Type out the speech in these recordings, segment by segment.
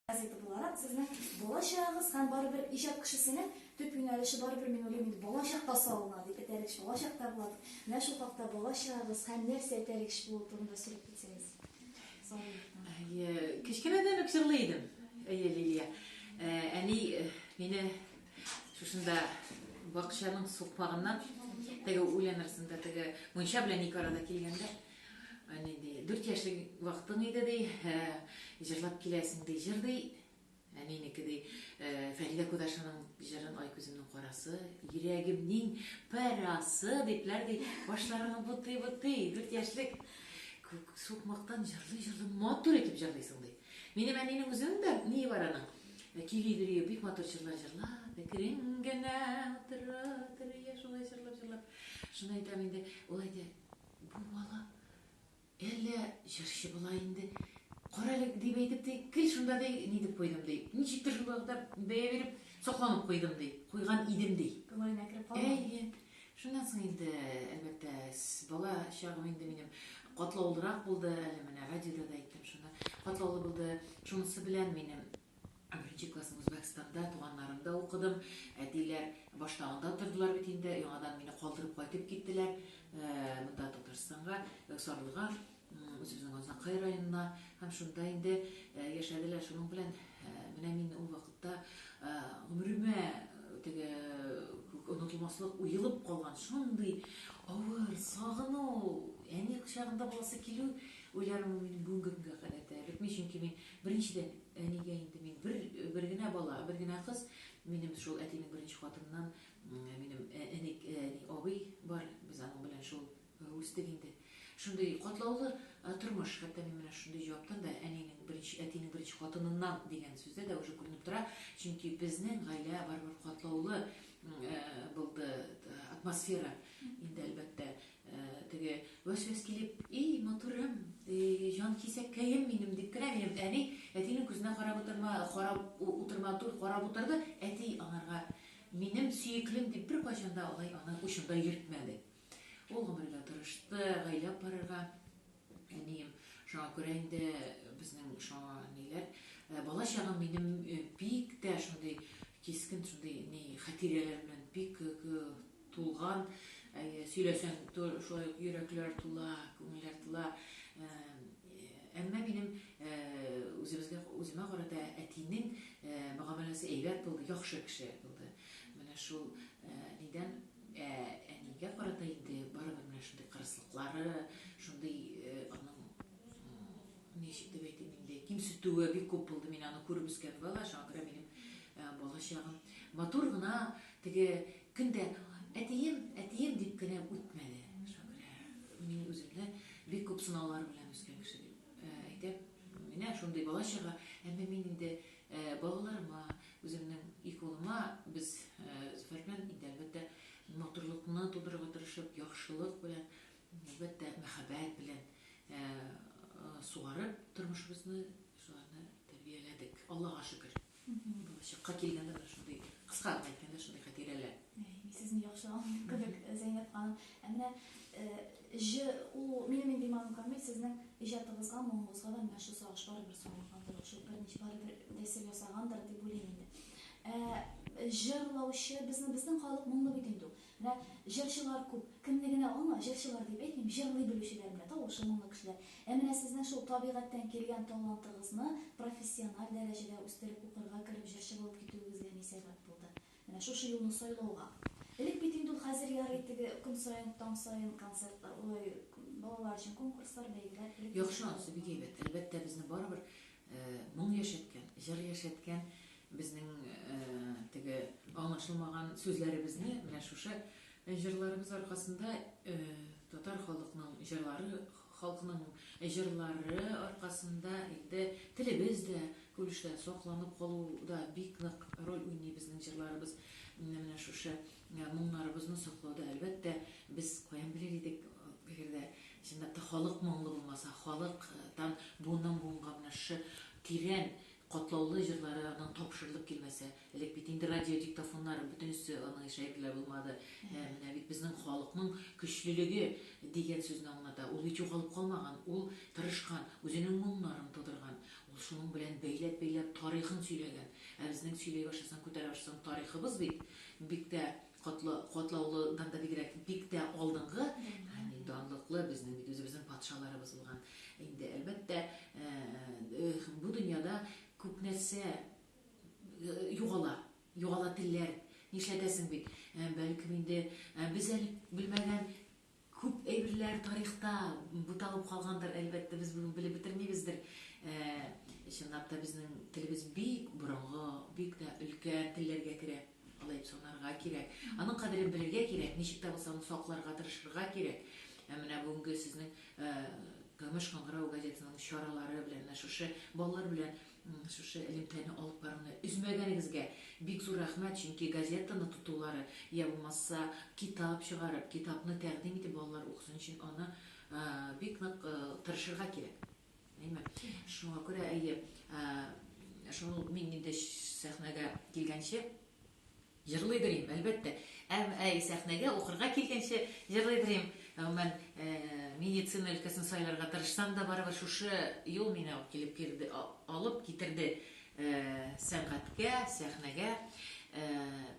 Газета буларак сезнең балачагыгыз һәм барыбер иҗат кешесенең төп юнәлеше барыбер мин уйлыйм инде балачакта салына дип этәрикш балачакта була дип. Менә шул хакта балачагыгыз һәм нәрсә этәрикш булу турында сөйләп китсәгез. Кечкенәдән үк җырлый идем. Әйе, Лилия. Әни мине шушында бакчаның сукмагыннан теге үлән арасында теге мунча белән ике арада килгәндә Әни ди, дүрт яшьлек вакытың иде ди, җырлап киләсең ди, җыр ди. Әнинеке ди, Фәридә Кудашеваның җырын Ай күземнең карасы, йөрәгемнең парасы дипләр ди. Башларыңа бутый-бутый, дүрт яшьлек күк сукмактан җырлый-җырлый матур итеп җырлыйсың ди. Минем әнинең үзенең дә ние бар аның. Килидрио бик матур җырлар җырлап, әкрен генә утыра-утыра, шулай җырлап-җырлап. Шуны әйтәм инде, ул әйтә, Бу бала әллә җырчы була инде, карале, дип әйтеп, ди, гел шунда, ди, ни дип куйдым, ди, ничектер шул вакытта бәя биреп, сакланып куйдым, ди, куйган идем, ди. Күңеленә кереп калган. Әйе. Шуннан соң инде, әлбәттә, бала чагым инде минем катлаулырак булды, әле менә радиода да әйттем шуны, катлаулы булды. Шунысы белән минем Ә беренче классны Үзбәкстанда, туганнарымда укыдым. Әтиләр башта анда тордылар бит инде, яңадан мине калдырып кайтып киттеләр монда, Татарстанга, Сарлыга, үзебезнең Азнакай районына һәм шунда инде яшәделәр. Шуның белән менә мин ул вакытта гомеремә теге онытылмаслык уелып калган шундый авыр сагыну, әни кочагында буласы килү уйларым минем бүгенге көнгә кадәр дә бетми, чөнки мин Беренчедән, әнигә инде мин бер бер генә бала, бер генә кыз. Минем шул әтинең беренче хатыныннан минем әни, әни абый бар. Без аның белән шул үстек инде. Шундый катлаулы тормыш. Хәтта мин менә шундый җаваптан да әнинең беренче, әтинең беренче хатыныннан дигән сүздә дә уже күренеп тора. Чөнки безнең гаилә барыбер катлаулы булды атмосфера. Инде, әлбәттә, Теге, вәс-вәс килеп, И, матурым, и, җанкисәккәем минем, дип кенә минем әни, әтинең күзенә карап утырма, карап утырма түл, карап утырды, әти анарга, Минем сөеклем, дип беркайчан да алай аны учында йөртмәде. Ул гомергә тырышты, гаиләп барырга, әнием, шуңа күрә инде безнең шуңа ниләр, бала чагым минем бик тә шундый кискен, шундый ни хәтирәләр белән бик Тулган, әйе, сөйләсәң шулай ук йөрәкләр тула, күңелләр тула. Әмма минем үзебезгә, үземә карата әтинең мөгамәләсе әйбәт булды, яхшы кеше булды. Менә шул нидән әнигә карата инде барыбер менә шундый кырыслыклары, шундый аның ничек дип әйтим инде, кимсетүе бик күп булды. Мин аны күреп үскән бала, шуңа күрә минем балачагым матур гына, Теге көн дә әтием, әтием дип кенә үтмәде. Шакирә, мин үземне бик күп сынаулар белән үскән кеше дип әйтәм. Менә шундый бала чага, әмма мин инде балаларыма, үземнең ике улыма без Зөфәр белән инде әлбәттә матурлыкны тудырырга тырышып, яхшылык белән, әлбәттә, мәхәббәт белән сугарып тормышыбызны шуларны тәрбияләдек, Аллага шөкер. Балачакка килгәндә менә шундый, кыска гына әйткәндә, шундый хәтирәләр. Әй, мин сезне яхшы аңлыйм кебек, Зәйнәб ханым. Ә менә җы, ул минем инде иманым камил, сезнең иҗатыгызга, моңыгызга да менә шул сагыш барыбер салынгандыр, ошый берничә, барыбер тәэсир ясагандыр дип уйлыйм инде. Ә җырлаучы, безнең, безнең халык моңлы бит инде ул. Менә җырчылар күп. Кемне генә алма, җырчылар дип әйтмим, җырлый белүчеләр менә, тавышы моңлы кешеләр. Ә менә сезнең шул табигатьтән килгән талантыгызны профессиональ дәрәҗәгә үстереп, укырга кереп, җырчы булып китүегезгә ни сәбәп булды? Менә шушы юлны сайлауга. Элек бит инде ул хәзер ярый теге көн саен, таң саен концертлар, ой, балалар өчен конкурслар, бәйгеләр, элек Яхшы анысы, бик әйбәт. Әлбәттә, безне барыбер Моң яшәткән, җыр яшәткән безнең теге аңлашылмаган сүзләребезне менә шушы җырларыбыз аркасында татар халыкның җырлары, халкының җырлары аркасында инде телебез дә күрешә, сакланып калуда бик нык роль уйный безнең җырларыбыз. Менә шушы Менә моңнарыбызны саклауда, әлбәттә, без каян белер идек, әгәр дә чынлап та халык моңлы булмаса, халык тан буыннан буынга менә шушы тирән, катлаулы җырлары аның табышырылып килмәсә. Элек бит инде радиодиктофоннар бөтенесе аның шәеп лә булмады. Ә менә бит безнең халыкның көчлелеге дигән сүзне аңлата. Ул бит югалып калмаган, ул тырышкан, үзенең моңнарын тудырган. Ул шуның белән бәйләп-бәйләп тарихын сөйләгән. Ә безнең сөйли башласаң, күтәрә башласаң тарихыбыз бит, Бик тә катлы, катлаулы дан да бигрәк, бик тә алдынгы һәм и данлыклы безнең бит үзебезнең патшаларыбыз булган. Инде, әлбәттә, бу дөньяда күп нәрсә югала, югала телләр, нишләтәсең бит, бәлкем инде без әле белмәгән Күп әйберләр тарихта буталып калгандыр, әлбәттә, без бүген белеп бетермибездер. Чынлап та, безнең телебез бик борынгы, бик тә өлкән телләргә керә. Алай дип санарга кирәк. Аның кадерен белергә кирәк, ничек тә булса аны сакларга тырышырга кирәк. Ә менә бүгенге сезнең Тормыш кыңгырау газетасының чаралары белән, менә шушы балалар белән Шушы элемтәне алып баруны өзмәгәнегезгә бик зур рәхмәт, чөнки газетаны тотулары, йә булмаса китап чыгарып, китапны тәкъдим итеп балалар укысын өчен аны бик нык тырышырга кирәк. Әйме? Шуңа күрә, әйе, шул мин инде сәхнәгә килгәнче, Җырлыйдыр им, әлбәттә. Әм, әй, сәхнәгә укырга килгәнче җырлыйдыр им. Гомумән, медицина өлкәсен сайларга тырышсам да, барыбер шушы юл мине алып килеп керде, алып китерде сәнгатькә, сәхнәгә.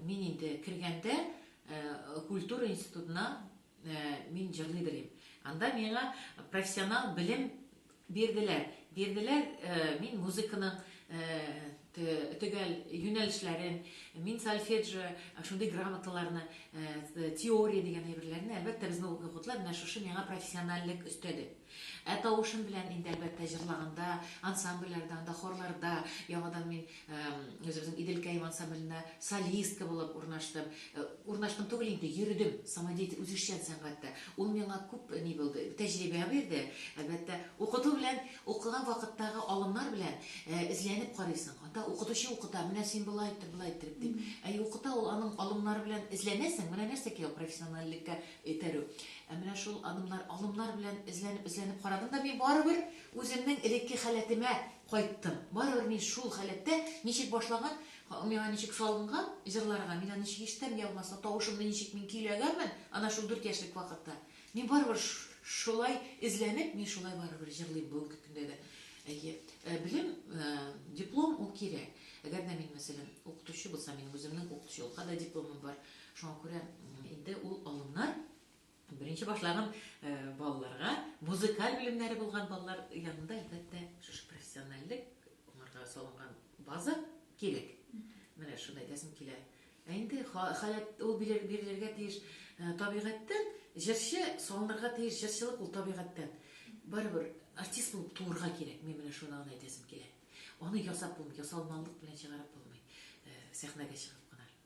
Мин инде кергәндә культура институтына Мин җырлый белим. Анда миңа профессионал белем бирделәр. Бирделәр, мин музыканың төгәл юнәлешләрен, мин сольфеджио, шундый грамоталарны, теория дигән әйберләрне, әлбәттә, безне укытылар, менә шушы миңа профессиональлек өстәде. Ә тавышым белән инде, әлбәттә, җырлаганда, ансамбльләрдә, анда хорларда, яңадан мин үзебезнең Иделкәем ансамбленә солистка булып урнаштым. Урнаштым түгел инде, йөрдем, самодеятель, үзешчән сәнгатьтә. Ул миңа күп ни булды, тәҗрибә бирде. Әлбәттә, укыту белән, укыган вакыттагы алымнар белән эзләнеп карыйсың. Анда укытучы укыта, менә син болай иттереп, болай иттереп дип. Әйе, укыта ул, аның алымнары белән эзләнәсең, менә нәрсә кирәк профессиональлеккә, Этәрү. Ә менә шул адымнар, алымнар белән эзләнеп-эзләнеп карадым да мин барыбер үземнең элекке халәтемә кайттым. Барыбер мин шул халәттә, ничек башлаган, миңа ничек салынган җырларга, миңа ничек ишетәм, йә булмаса тавышымны ничек мин көйләгәнмен ана шул дүрт яшьлек вакытта, мин барыбер шулай эзләнеп, мин шулай барыбер җырлыйм бүгенге көндә дә. Әйе, белем, диплом ул кирәк. Әгәр дә мин, мәсәлән, укытучы булсам, минем үземнең укытучылыкка да дипломым бар. Шуңа күрә инде ул алымнар беренче башлаган балаларга, музыкаль белемнәре булган балалар янында, әлбәттә, шушы профессиональлек, аңарга салынган база кирәк. Менә шуны әйтәсем килә. Ә инде халәт ул бирелергә тиеш табигатьтән, җырчы салынырга тиеш җырчылык ул табигатьтән. Барыбер артист булып туырга кирәк, мин менә шуны гына әйтәсем килә. Аны ясап булмый, ясалмалык белән чыгарып булмый сәхнәгә чыгып кына.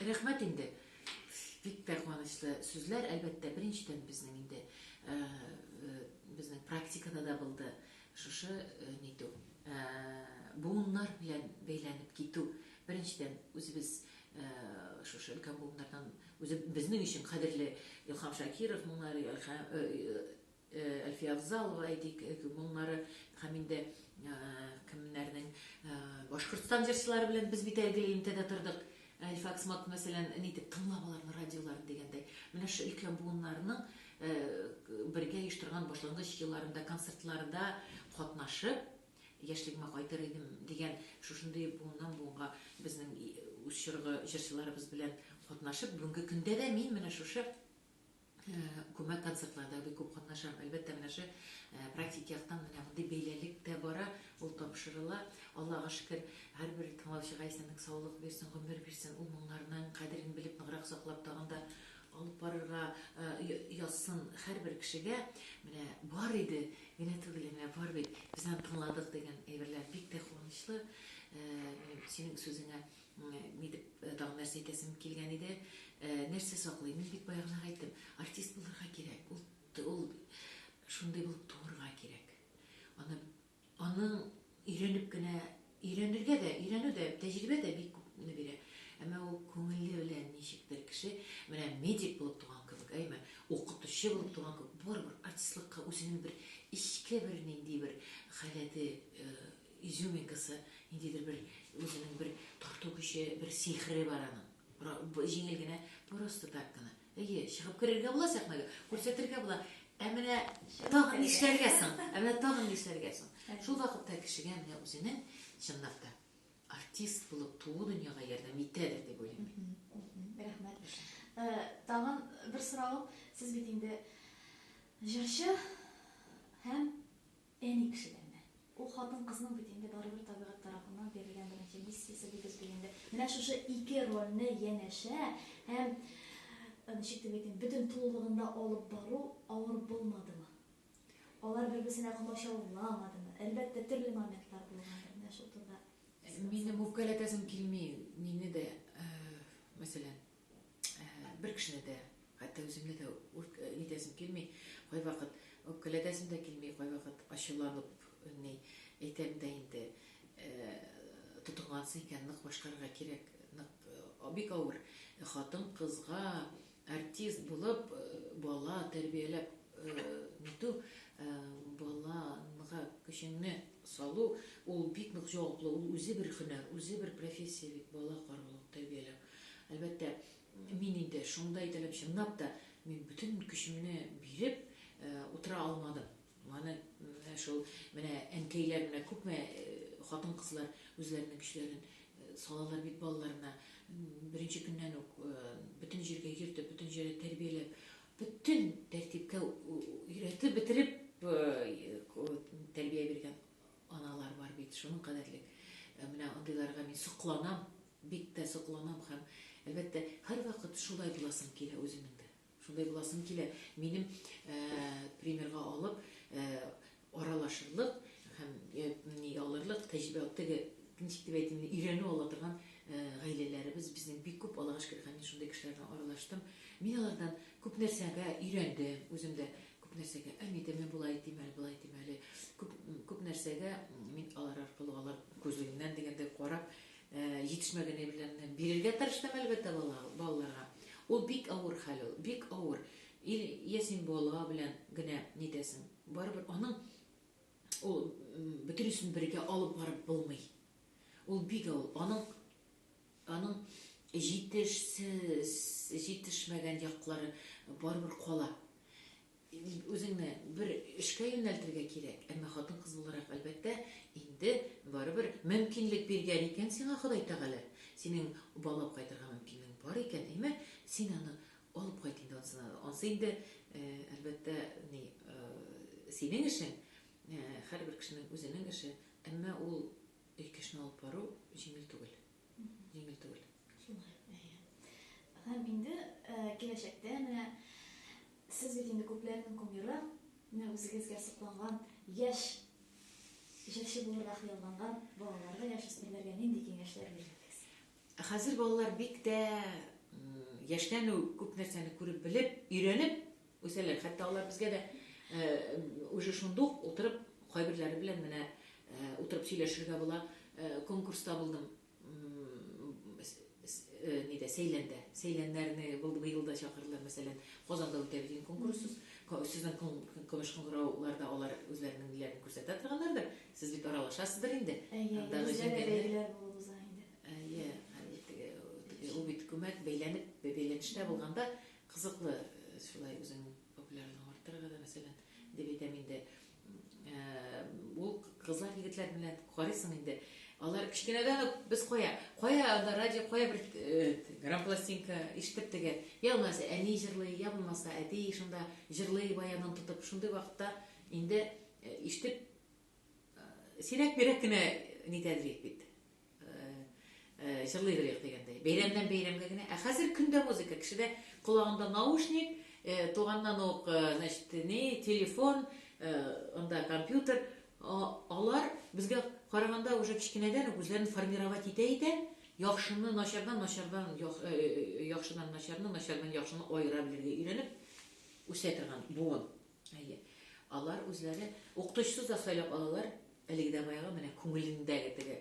Рәхмәт инде. Бик тә куанычлы сүзләр. Әлбәттә, беренчедән безнең инде безнең практикада да булды шушы нитү. Буыннар белән бәйләнеп китү. Беренчедән, үзебез шушы өлкән буыннардан безнең өчен кадерле Илһам Шакиров моңнары, Әлфия Авзалова әйтик, күп моңнары һәм инде кемнәрнең Башкортстан җырчылары белән без бит әлеге элемтәдә тордык. Әлфия Аксмат, мәсәлән, нитеп тыңлап аларны радиоларын дигәндәй. Менә шушы өлкән буыннарның бергә оештырган башлангыч елларында концертларда катнашып, яшьлегемә кайтыр идем дигән шушындый буыннан буынга безнең үз чоргы җырчыларыбыз белән катнашып, бүгенге көндә дә мин менә шушы Күмәк концертларда бик күп катнашам. Әлбәттә, менә шул практик яктан менә мондый бәйлелек тә бара, ул тапшырыла. Аллага шөкер, һәрбер тыңлаучыга исәнлек-саулык бирсен, гомер бирсен, ул моңнарның кадерен белеп, ныграк саклап, тагын да алып барырга язсын һәрбер кешегә. Менә бар иде генә түгел, менә бар бит, без аны тыңладык дигән әйберләр бик тә куанычлы. Минем синең сүзеңә Ни дип тагын нәрсә әйтәсем килгән иде, нәрсә саклый? Мин бит баягынак әйттем, артист булырга кирәк, ул ул шундый булып туырга кирәк. Аны аның өйрәнеп кенә өйрәнергә дә, өйрәнү дә, тәҗрибә дә бик күпне бирә. Әмма ул күңеле белән ничектер кеше, менә медик булып туган кебек, әйме, укытучы булып туган кебек, барыбер артистлыкка үзенең бер эчке бер нинди бер халәте изюминкасы, ниндидер бер үзенең бер тарту көче, бер сихере бар аның. Б, җиңел генә, просто так кына. Әйе, чыгып керергә була сәхнәгә, күрсәтергә була. Ә менә тагын нишләргә соң? Ә менә тагын нишләргә соң? Шул вакытта кешегә менә үзенең чынлап та артист булып туу дөньяга ярдәм итәдер дип уйлыйм мин. Рәхмәт. Э, тагын бер сорау. Сез бит инде җырчы һәм Әни кешегәме? Ул хатын-кызның бит инде барыбер табигать тарафыннан бирелгән беренче миссиясе дибез бит инде. Менә шушы ике рольне янәшә һәм, ничек дип әйтим, бөтен тулылыгында алып бару авыр булмадымы? Алар бер-берсенә комачауламадымы? Әлбәттә, төрле моментлар булгандыр менә шул турыда. Минем үпкәләтәсем килми, мине дә, мәсәлән. бер кешене дә, хәтта үземне дә нитәсем килми, кайвакыт үпкәләтәсем дә килми, кайвакыт ачуланып ни әйтәм дә инде, тотынгансың икән, нык башкарырга кирәк, нык, бик авыр. Хатын-кызга артист булып, бала тәрбияләп нитү, баланга көчеңне салу, ул бик нык җаваплы, ул үзе бер һөнәр, үзе бер профессия бит, бала карау, тәрбияләү. Әлбәттә, мин инде шунда итәлеп, чынлап та, мин бөтен көчемне биреп утыра алмадым. Аны шул менә әнкәйләр менә күпме хатын-кызлар үзләренең көчләрен салалар бит балаларына. Беренче көннән үк бөтен җиргә йөртеп, бөтен җирдә тәрбияләп, бөтен тәртипкә өйрәтеп бетереп тәрбия биргән аналар бар бит. Шуның кадәрлек менә андыйларга мин сокланам. Бик тә сокланам һәм, әлбәттә, һәрвакыт шулай буласым килә үземнең дә. Шундай буласым килә, минем примерга алып, аралашырлык һәм ни алырлык тәҗрибә, теге, ничек дип әйтим, өйрәнү ала торган гаиләләребез безнең бик күп, Аллага шөкер, һәм мин шундый кешеләр белән аралаштым. Мин алардан күп нәрсәгә өйрәндем, үзем дә күп нәрсәгә, ә нидә мин болай итим әле, болай итим әле, күп, күп нәрсәгә мин алар аркылы, алар күзлегеннән дигәндәй карап, Җитешмәгән әйберләрне бирергә тырыштым, әлбәттә, балаларга. Ул бик авыр хәл ул, бик авыр. Йә син бала белән генә нитәсең, барыбер аның ул бөтенесен бергә алып барып булмый. Ул бик авыр, аның аның җитешсез, җитешмәгән яклары барыбер кала. Инде үзеңне бер эшкә юнәлтергә кирәк. Әмма хатын-кыз буларак, әлбәттә, инде барыбер мөмкинлек биргән икән сиңа Ходай Тәгалә. Синең балап кайтырга мөмкинлегең бар икән, әйме, син аны алып кайт инде ансын аны. Ансы инде, әлбәттә, ни, синең эшең, һәрбер кешенең үзенең эше. Әмма ул өй кешене алып бару җиңел түгел. җиңел түгел. Шулай, әйе. Һәм инде киләчәктә менә сез бит инде күпләрнең кумиры, менә үзегезгә сокланган яшь җырчы булырга хыялланган балаларга, яшүсмерләргә нинди киңәшләр бирерсез? Хәзер балалар бик тә яшьтән үк күп нәрсәне күреп-белеп, өйрәнеп Үсәләр, хәтта алар безгә дә уже шунда ук утырып, кайберләре белән менә утырып сөйләшергә була. Конкурста булдым, нидә, Сәйләндә. Сәйләннәрне бу быел да чакырдылар, мәсәлән, Казанда үтә бит инде конкурс. Сезнең көмеш кыңгырауларда алар үзләренең ниләрен күрсәтә торганнардыр. Сез бит аралашасыздыр инде. Әйе, бездә дә бәйгеләр булып уза инде. Әйе, ул бит күмәк, бәйләнеп, бәйләнештә булганда, Кызыклы шулай үзеңнең популярлыгың арттырырга да, мәсәлән, дип әйтәм инде. Ул кызлар, егетләр белән карыйсың инде. Алар кечкенәдән үк без кая, кая анда радио, кая бер грампластинка ишетеп теге. Я булмаса әни җырлый, я булмаса әти шунда җырлый баянын тотып. Шундый вакытта инде ишетеп Сирәк-бирәк кенә нитәдриек бит. Җырлыйдырыйк дигәндәй. Бәйрәмнән бәйрәмгә генә. Ә хәзер көндә музыка. Кешедә колагында наушник, туганнан ук, значит, ни, телефон, анда компьютер. Алар безгә караганда уже кечкенәдән үк үзләрен формировать итә-итә, яхшыны начардан, начардан яхшыдан начарны, начардан яхшыны аера белергә өйрәнеп үсә торган буын. Әйе. Алар үзләре укытучысы да сайлап алалар, әлеге дә баягы менә күңелендәге теге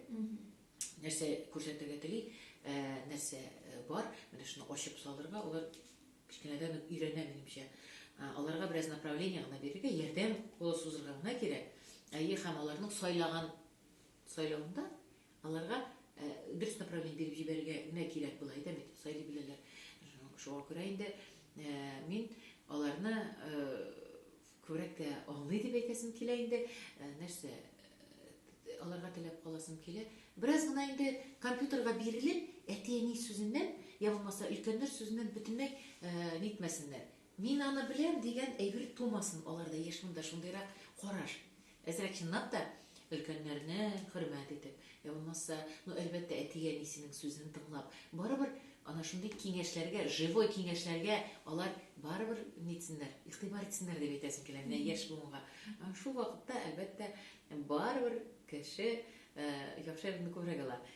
нәрсә күрсәтергә тели, ә, нәрсә э, бар, менә шуны ачып салырга, алар кечкенәдән үк өйрәнә, минемчә. Ә, Аларга бераз направление гына бирергә, ярдәм кулы сузырга гына кирәк. Әйе, һәм аларның сайлаган сайлавында Аларга дөрес направление биреп җибәрергә генә кирәк була, әйтәм бит, сайрый беләләр. Шуңа күрә инде мин аларны күбрәк тә аңлый дип әйтәсем килә инде. Нәрсә, аларга теләп каласым килә. Бераз гына инде компьютерга бирелеп, әти-әни сүзеннән, я булмаса өлкәннәр сүзеннән бөтенләй нитмәсеннәр. Мин аны беләм, дигән әйбер тумасын аларда яшь монда шундыйрак караш. Әзрәк чынлап та, өлкәннәрне хөрмәт итеп, йә булмаса, ну, әлбәттә, әтиге-әнисенең сүзен тыңлап, барыбер ана шундый киңәшләргә, живой киңәшләргә алар барыбер нитсеннәр, игътибар итсеннәр дип әйтәсем килә менә яшь буынга. Шул вакытта, әлбәттә, барыбер кеше яхшы әйберне күбрәк ала.